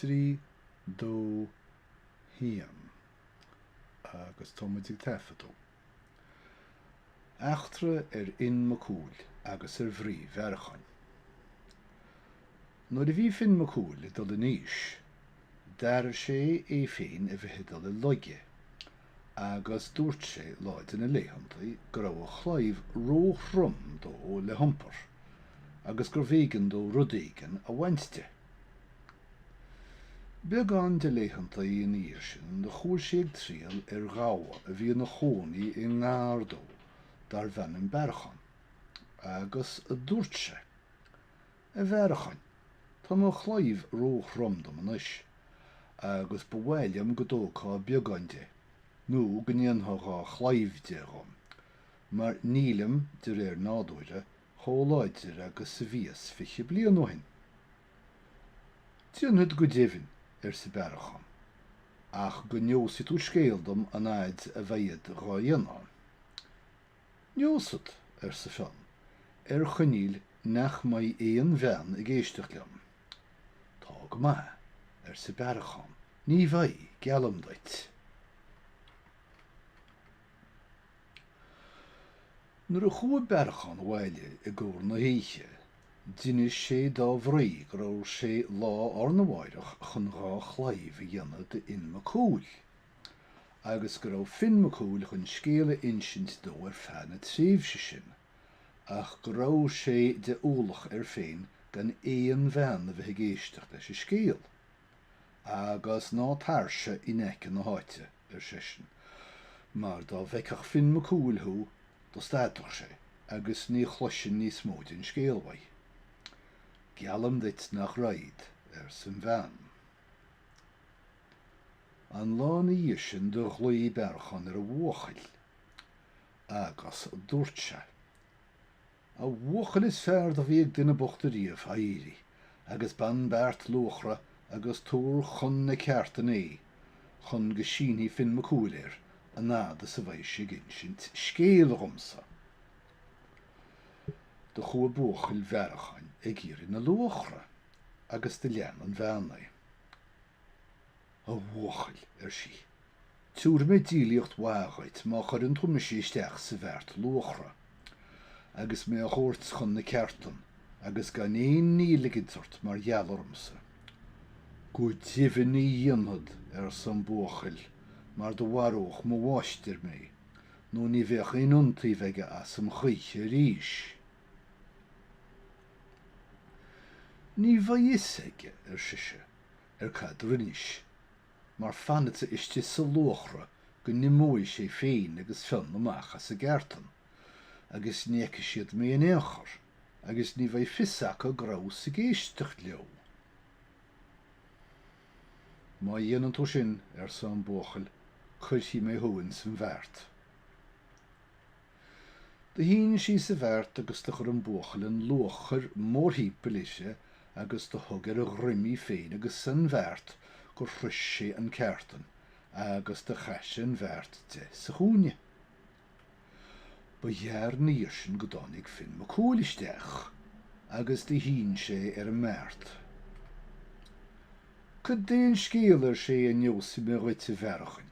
Trí, dó, haon. Agus tá muid ag taifeadadh. Eachtra ar Fhionn Mac Cumhaill agus ar mhnaoi Bhearacháin. Nuair a bhí Fionn Mac Cumhaill ag dul in aois, d'airigh sé é féin a bheith ag dul i laige, agus dúirt sé lá de na laethanta go raibh a chlaíomh ró-throm dó le hiompar agus gurbh éigean dó rud éigin a bhaint de. Beagán de laethanta ina dhiaidh sin do chuaigh sé ag triall ar ghabha a bhí ina chónaí i ngar dó darbh ainm Bearachán, agus adúirt sé. A Bhearacháin, tá mo chlaíomh ró-throm dom anois, agus ba mhaith liom go dtógfá beagán de, nó go ndéanfá dhá chlaíomh de dhom, mar nílim, de réir nádúire, chomh láidir agus a bhíos fiche bliain ó shin. Déanfad go deimhin, arsa Bearachán, ach go neosaidh tú scéal dom an fhaid a bhead dhá dhéanamh. 'Neosad, arsa Fionn, 'ar choinníoll nach mbeidh aon bhean ag éisteacht liom. 'Tá go maith, arsa Bearachán, 'ní bheidh, geallaim duit. Nuair a chuaigh Bearachán abhaile i gcomhair na hoíche, d'inis sé dá mhnaoi go raibh sé lá arna mháireach chun dhá chlaíomh a dhéanamh d'Fhionn Mac Cumhaill, agus go raibh Fionn Mac Cumhaill chun scéal a insint dó ar feadh na tréimhse sin, ach go raibh sé de ualach air féin gan aon bhean a bheith ag éisteacht leis an scéal. Agus ná tairse in aice na háite, ar seisean, mar dá bhfeicfeadh Fionn Mac Cumhaill thú, do stadfadh sé, agus ní chloisfinn níos mó den scéal uaidh. Geallaim duit nach raghad, arsa an bhean. An lá ina dhiaidh sin do ghlaoigh Bearchán ar a bhuachaill agus dúirt sé. A bhuachaill is fearr do bhí ag duine bocht ariamh, éirigh agus bain beart luachra agus tabhair chun na ceártan é chun go sínfidh Fionn Mac Cumhaill air an fhad is a bheidh sé ag insint scéal dhomsa. Do chuaigh buachaill Bhearcháin ag iarraidh na luachra agus do lean an bhean é. A bhuachaill, ar sí, tabharfaidh mé díolaíocht mhaith dhuit má chuireann tú mise isteach sa bheart luachra, agus mé a thabhairt chun na ceártan, agus gan aon ní a ligint ort mar gheall ormsa. Go deimhin ní dhéanfad, arsa an buachaill, mar do mharódh mo mháistir mé, nó ní bheadh aon iontaoibh aige asam choíche arís. Ní bheidh fhios aige, ar sise, cad do rinnis, mar fanfadsa istigh sa luachra go n-imeoidh sé féin agus Fionn amach as a gceártan, agus ní fheicfidh siad mé in aon chor, agus ní bheidh fios acu go rabhas ag éisteacht leo! Má dhéanann tú sin, arsa an buachaill, cuirfidh mé thú ins an bheart. Do shín sí sa bheart agus do chuir an buachaill an luachair mórthimpeall uirthi agus do thug ar a dhroim í féin agus an bheart gur shrois sé an cheártan agus do chaith sé an bheart de sa chúinne. Ba ghearr na dhiaidh sin go dtáinig Finn Mac Cumhaill isteach agus do shín sé ar an mbeart. Cad é an scéal, ar sé, a neósfaidh mé dhuit, a Bhearcháin?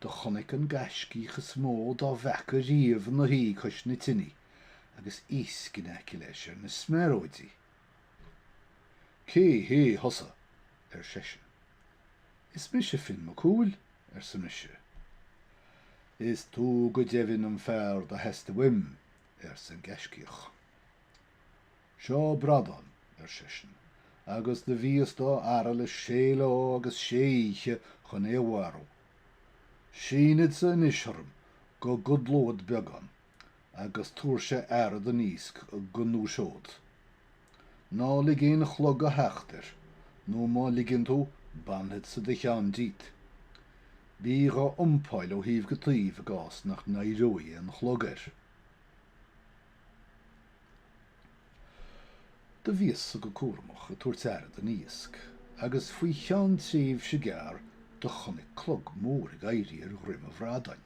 Do chonaic an gaiscíoch is mó dá bhfeaca riamh ina shuí cois na tineadh agus iasc in aice leis ar na smearóidí. Cé hé thusa? ar seisean. Is mise Finn Mac Cumhaill, arsa mise. Is tú go deimhin an fear do theastaigh uaim, arsa an gaiscíoch. Seo bradán, ar seisean, agus do bhíos dá fhaire le sé lá agus sé oíche chun é a mharú. Sínfeadsa anois tharam go gcodlód beagán agus tabhairse aire don iasc go ndúiseod. Ná lig aon chlog a theacht air, nó má ligeann tú, bainfeadsa do cheann díot. Bídh á iompáil ó thaobh go taobh i gcás nach n-éireoidh aon chlog air. Do bhíos-sa go cúramach ag tabhairt aire don iasc agus faoi cheann tréimhse gearr do chonaic clog mór ag éirí ar dhroim an bhradáin.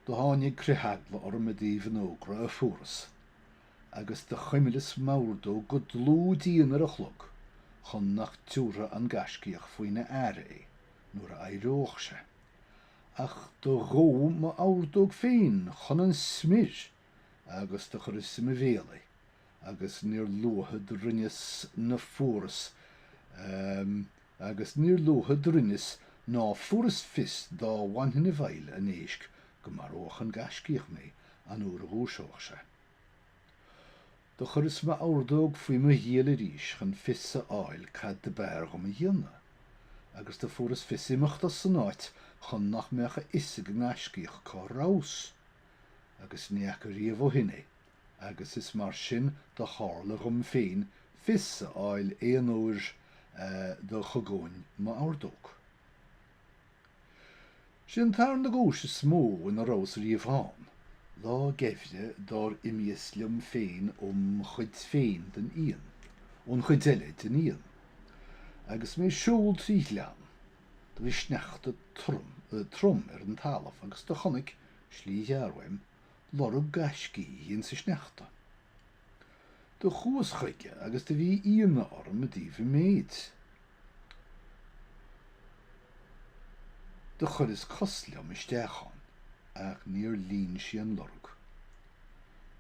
Do tháinig critheagla orm i dtaobh an fhógra a fuaras agus do chuimlíos m'ordóg go dlúth dian ar an chlog chun nach dtiúrfadh an gaiscíoch faoina aire é nuair a éireodh sé. Ach do dhódh m'ordóg féin chun an smior agus do chuireas i mo bhéal í agus níor luaithe do rinneas ná fuaras agus níor luaithe do rinneas ná fuaras fios dá bhfanfainn i bhfeighil an éisc go maródh an gaiscíoch mé an uair a dhúiseodh sé. Do chuireas m'ordóg faoi mo ghiall arís chun fios a fháil cad do b'fhearr dhom a dhéanamh, agus do fuaras fios imeacht as an áit chun nach mbeadh a fhios ag an ngaiscíoch cá rabhas, agus ní fhaca riamh ó shin é, agus is mar sin do tharla dhom féin fios a fháil aon uair do chognóinn m'ordóg. Sé an tarna guais is mó ina rabhas riamh ann. Lá geimhridh dár imíos liom féin ón chuid féin den Fhiann, ón chuid eile den Fhiann, agus mé ag siúl trí ghleann, do bhí sneachta trom ar an talamh agus do chonaic slí ghearr uaim lorg gaiscígh insa sneachta. Do chuas chuige agus do bhí ionadh orm i dtaobh a mhéid. Do chuireas cos liom isteach ann ach níor líon sí an lorg.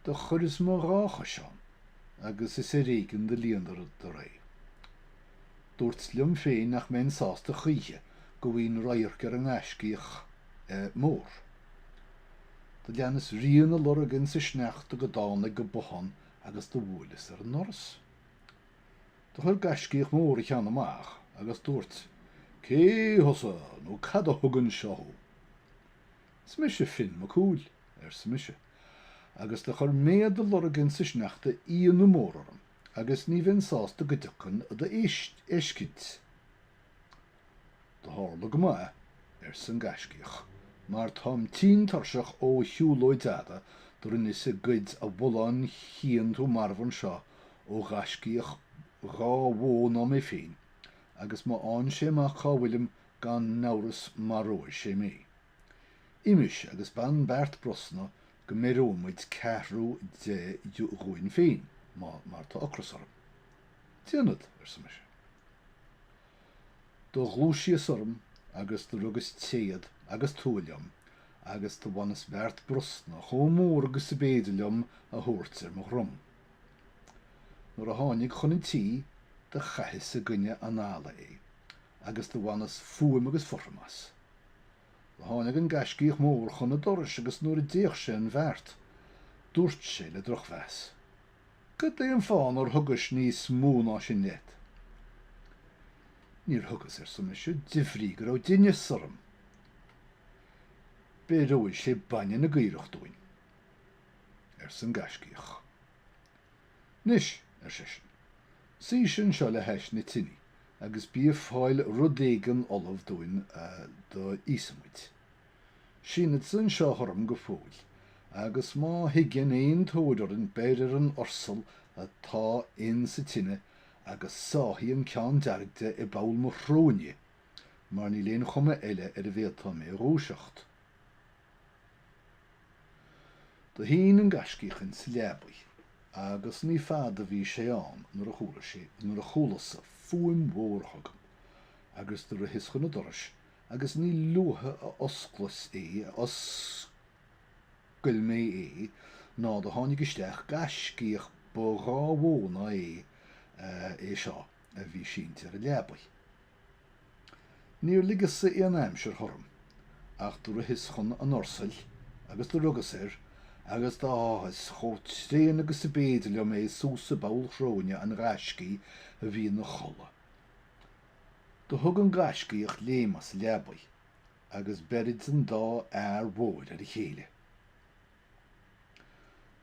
Do chuireas mo dhá chois ann agus is ar éigin do líonadar é. Dúrtsa liom féin nach mbeinn sásta choíche go bhfaighinn radharc ar an ngaiscíoch mór. Do leanas rian a lorg insa sneachta go dtánag go bothán agus do bhuaileas ar an ndoras. Do chuir gaiscíoch mór a cheann amach agus dúirt, Cé thusa nó cad a thug anseo thú? Is mise Fionn Mac Cumhaill, arsa mise, agus do chuir méad do lorg insa sneachta ionadh mór orm agus ní bheinn sásta go dtiocfainn ad fheiscint. Do thárla go maith, arsa an gaiscíoch, mar táim tinn tuirseach ó shiúlóid fhada do rinneas ag goid an bhulláin a chíonn tú marbh anseo ó ghaiscíoch dhá mhó ná mé féin agus má fhaigheann sé amach cá bhfuilim gan n-amhras maróidh sé mé. Imis agus bain beart brosna go mbeireoidh muid ceathrú de dhúinn féin má mar tá ocras orm. Déanfad, arsa mise. Do ghluaisíos orm agus do rugas téad agus tua liom agus do bhaineas beart brosna chomh mór agus ab fhéidir liom a thabhairt ar mo dhrom. Nuair a tháinig chun an tí do chaitheas i gcoinne an fhalla é agus do bhaineas fuaim agus fothram as. Do tháinig an Gaiscíoch Mór chun an dorais agus nuair a d'fhéach sé an bheart dúirt sé le drochmheas. Goidé an fáth nár thugais níos mó ná sin leat? Níor thugas, arsa mise, de bhrí go raibh deithneas orm. Beireoidh sé bainne na gcaorach dúinn, arsa an gaiscíoch. Anois, ar seisean, suighse anseo le hais na tine agus bí ag fáil rud éigin ullamh dúinn do íosfaimid. Sínfeadsa anseo tharm go fóill, agus má thigeann aon tóir orainn beir ar an ursal atá in sa tine agus sáthaigh an ceann dearg de i bpoll mo shróine, mar níl aon chuma eile ar a bhféadfá mé a dhúiseacht. Do shín an Gaiscíoch in sa leabaidh, agus ní fada bhí sé ann nuair a chuala sé, nuair a chualasa, fuaim mhór chugam, agus do ritheas chun an dorais agus ní luaithe a osclas é a oscail mé é ná do tháinig isteach gaiscíoch ba dhá mhó ná é é seo a bhí sínte ar a leabaidh. Níor ligeas-sa aon aimsir thorm, ach do ritheas chun an ursail agus do rugas air agus do sháthas chomh tréan agus ab fhéidir liom é suas i bpoll shróine an ghaiscígh a bhí ina chodladh. Do thug an gaiscíoch léim as a leabaidh agus beirid an dá fhear mhóir ar a chéile.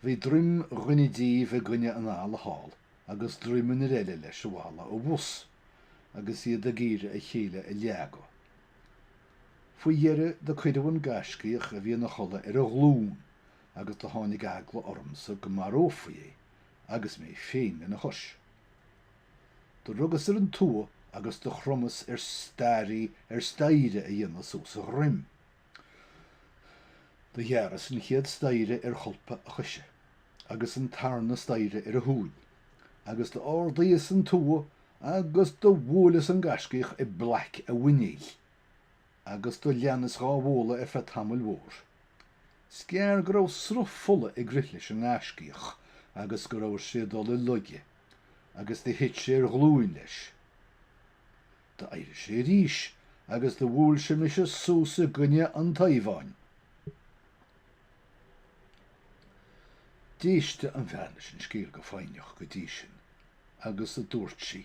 Bhí druim dhuine díobh i gcoinne an fhalla thall agus druim an fhir eile leis an bhfalla abhus, agus iad ag iarraidh a chéile a leagadh. Faoi dheireadh do cuireadh an gaiscíoch a bhí ina chodladh ar a ghlún agus do tháinig eagla ormsa go marófaí é agus mé féin lena chois. Do rugas ar an tua agus do chromas ar staighrí ar staighre a dhéanamh suas a dhroim. Do ghearras an chéad staighre ar cholpa a choise, agus an tarna staighre ar a thóin, agus d'ardaíos an tua agus do bhuaileas an gaiscíoch i bplaic a mhuiníl. agus do leanas dhá bhualadh ar feadh tamaill mhóir. 'S gearr go raibh sruth fola ag rith leis an ngaiscíoch agus go raibh sé ag dul i laige, agus do thit sé ar ghlúin leis. D'éirigh sé arís agus do bhuail sé mise suas i gcoinne an taobháin. D'éist an bhean leis an scéal go foighneach go dtí sin, agus a dúirt sí.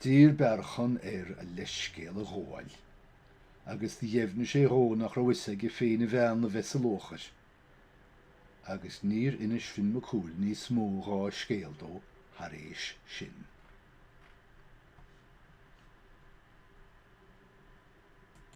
D'iarr Bearchán air a leithscéal a ghabháil agus do dheimhnigh sé dhó nach raibh fhios aige féin a bhean a bheith sa luachair. Agus níor inis Finn Mac Cumhaill níos mó dhá scéal dó thar éis sin.